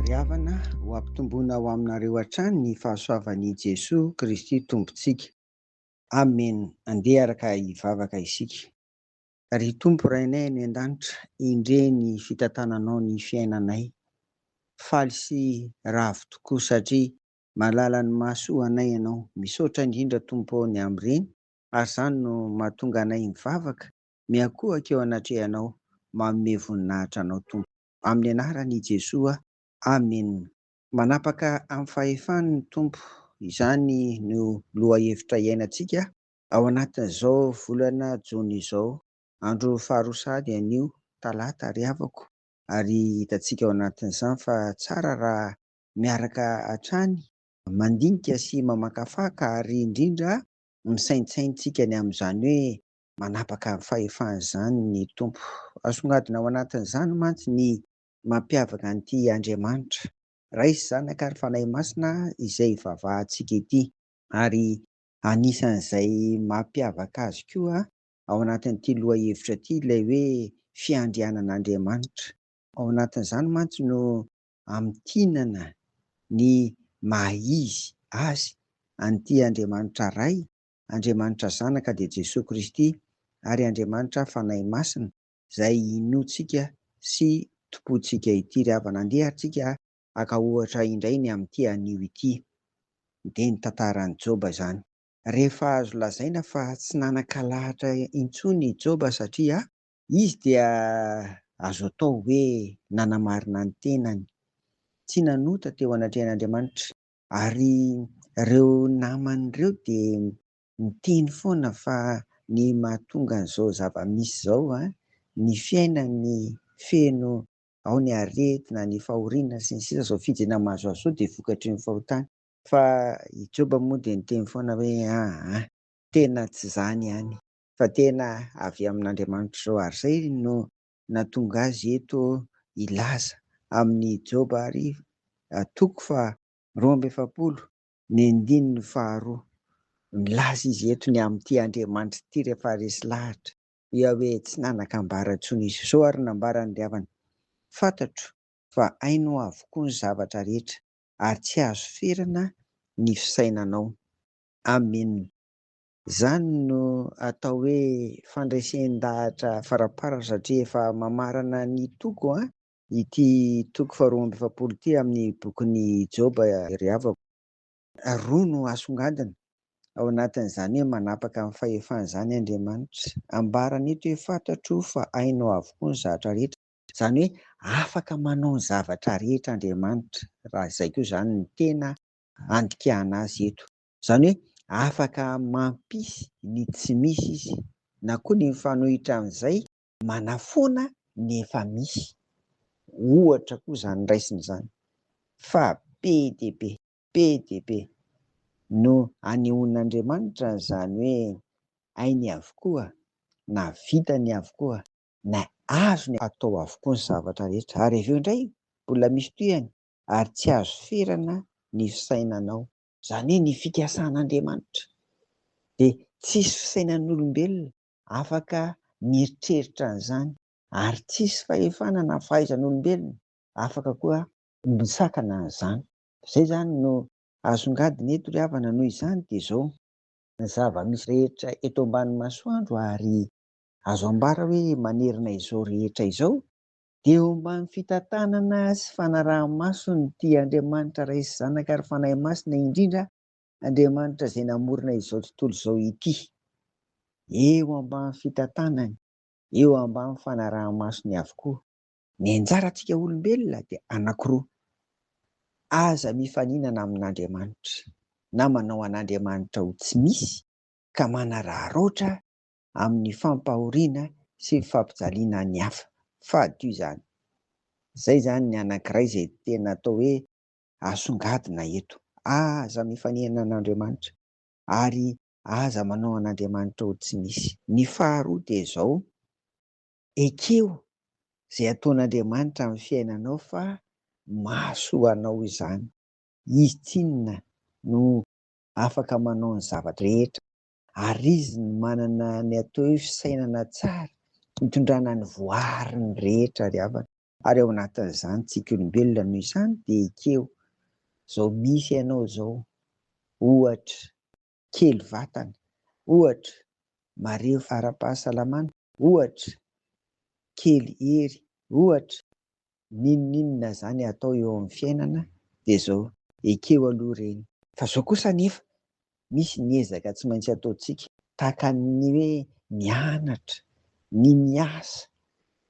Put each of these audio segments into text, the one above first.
Ry havana, ho ampitomboina ho aminareo hatrany ny fahasoavan' i Jesoa Kristy Tompontsika. Amen! Andeha araka hivavaka isika. Ry Tompo Rainay any An-danitra, endrey ny fitantananao ny fiainanay. Faly sy ravo tokoa satria malala ny mahasoa anay Ianao. Misaotra indrindra Tompo ô ny amin'ireny ary izany no mahatonga anay mivavaka, miankohoka eo anatrehanao, manome voninahitra anao Tompo. Amin'ny anaran' i Jesoa, Amen. Manapaka amin'ny fahefany ny Tompo, izany no lohahevitra iainantsika ao anatin'izao volana jona izao, andro faharoa sahady anio, talata ry havako, ary hitantsika ao anatin'izany fa tsara raha miaraka hatrany mandinika sy mamakafaka ary indrindra misaintsain tsika ny amin'izany hoe manapaka ny fahefany izany ny Tompo. Asongadina ao anatin'izany mantsy ny mampiavaka an'ity Andriamanitra, Ray sy Zanaka ary Fanahy Masina izay ivavahantsika ity. Ary anisan'izay mampiavaka azy koa ao anatin'ity lohahevitra ity ilay hoe fiandrianan'Andriamanitra. Ao anatin'izany mantsy no amintinana ny maha izy azy an'ity Andriamanitra Ray, Andriamanitra Zanaka dia Jesoa Kristy ary Andriamanitra Fanahy Masina izay Inoantsika sy Tompontsika ity. Ry havana, andeha ary tsika haka ohatra indray ny amin'ity anio ity. Dia ny tantaran'i Joba izany. Rehefa azo lazaina fa tsy nanan-kalahatra intsony i Joba satria Izy dia azo atao hoe nanamarina ny tenany, tsy nanota teo anatrehan'Andriamanitra. Ary ireo namany ireo dia miteny foana fa ny mahatonga an'izao zava-misy izao, ny fiainany feno ao ny aretina, ny fahoriana, sy ny sisa, izao fijinany mahazoazo izao dia vokatry ny fahotana. Fa i Joba moa dia niteny foana hoe, Aa, tena tsy izany ihany. fa tena avy amin'Andriamanitra izao ary izay no nahatonga azy eto hilaza amin'ny Joba ary toko faha roa amby efapolo ny andininy faha roa, milaza izy eto ny amin'ity Andriamanitra ity rehefa resy lahatra, Yahweh tsy nanan-kambara intsony izy, izao ary no nambarany ry havana, fantatro fa hainao avokoa ny zavatra rehetra ary tsy azo ferana ny fisainanao. Amena. Izany no atao hoe fandresen-dahatra farapara satria efa mamarana ny toko an, ity toko faharoa amby efapolo ity amin'ny bokin'i Joba ry havako. Roa no asongadina ao anatin'izany hoe manapaka ny fahefany izany Andriamanitra. Ambarany eto hoe fantatro fa hainao avokoa ny zatra rehetra. Izany hoe afaka manao ny zavatra rehetra Andriamanitra, raha izay koa izany no tena andikana azy eto. Izany hoe afaka mampisy ny tsy misy izy na koa ny mifanohitra amin'izay manafoana ny efa misy. Ohatra koa izany raisina izany fa be dia be, be dia be no anehoan'Andriamanitra an'izany hoe hainy avokoa na vitany avokoa na azony atao avokoa ny zavatra rehetra ary avy eo indray mbola misy tohihany ary tsy azo ferana ny fisainanao. Izany hoe ny fikasan'Andriamanitra dia tsisy fisainan'olombelona afaka mieritreritra an'izany ary tsisy fahefana na fahaizan'olombelona afaka koa misakana an'izany. Izay izany no asongadina eto ry havana noho izany dia izao. Ny zava-misy rehetra eto ambany masoandro ary azo ambara hoe manerana izao rehetra izao Dia homba ny fitantanana sy fanaraha-maso ny tia Andriamanitra Ray sy Zanaka ary Fanahy Masina indrindra Andriamanitra izay namorona izao tontolo izao ity. Eo ambany fitantanany, eo ambany fanaraha-masony avokoa. Ny anjarantsika olombelona dia anankiroa, Aza mifaninana amin'Andriamanitra, na manao an'Andriamanitra ho tsy misy ka manararaotra amin'ny fampahoriana sy fampijaliana ny hafa. Fady io izany. Izay izany ny anankiray izay tena atao hoe asongadina eto. Aza mifanena an'Andriamanitra ary aza manao an'Andriamanitra ho tsy misy. Ny faharoa dia izao, ekeo izay ataon'Andriamanitra amin'ny fiainanao fa mahasoa anao izany. Izy tsinona no afaka manao ny zava-drehetra. ary izy no manana ny atao hoe fisainana tsara hitondrana ny voariny rehetra ry havana ary ao anatin'izany tsika olombelona noho izany dia ekeo zao misy ianao zao ohatra kely vatana ohatra marefo ara-pahasalamana ohatra kely hery ohatra n'inon'inona zany atao eo amin'ny fiainana dia zao, ekeo aloha reny. Fa zao kosa anefa misy ny ezaka tsy maintsy ataontsika tahaka ny hoe mianatra, ny miasa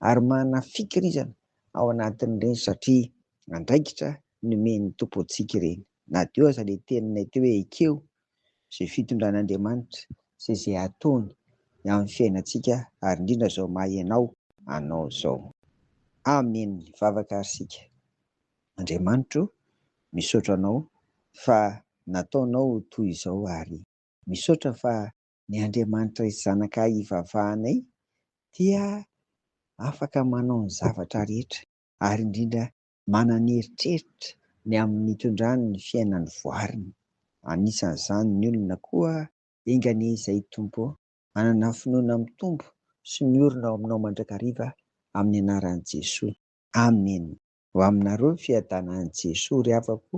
ary manana fikirizana ao anatin'ireny satria andraikitra nomen'ny Tompo antsika ireny. Na dia eo aza ilay teninay teo hoe ekeo izay fitondran'Andriamanitra sy izay ataony ny amin'ny fiainantsika ary indrindra izao maha ianao anao izao. Amen mivavaka ary isika. Andriamanitra o misaotra anao fa nataonao ho toy izao ary misaotra fa ny Andriamanitra hisy zanakay hivavahanay dia afaka manao ny zavatra rehetra ary indrindra manana eritreritra ny amin'ny hitondrany ny fiainany voariny, anisan'izany ny olona koa. Enga anie izay Tompo ô! Manana finoana mitombo sy miorina ao Aminao mandrakariva amin'ny anaran'i Jesoa. Amen! Ho aminareo ny fiadanan'i Jesoa ry havako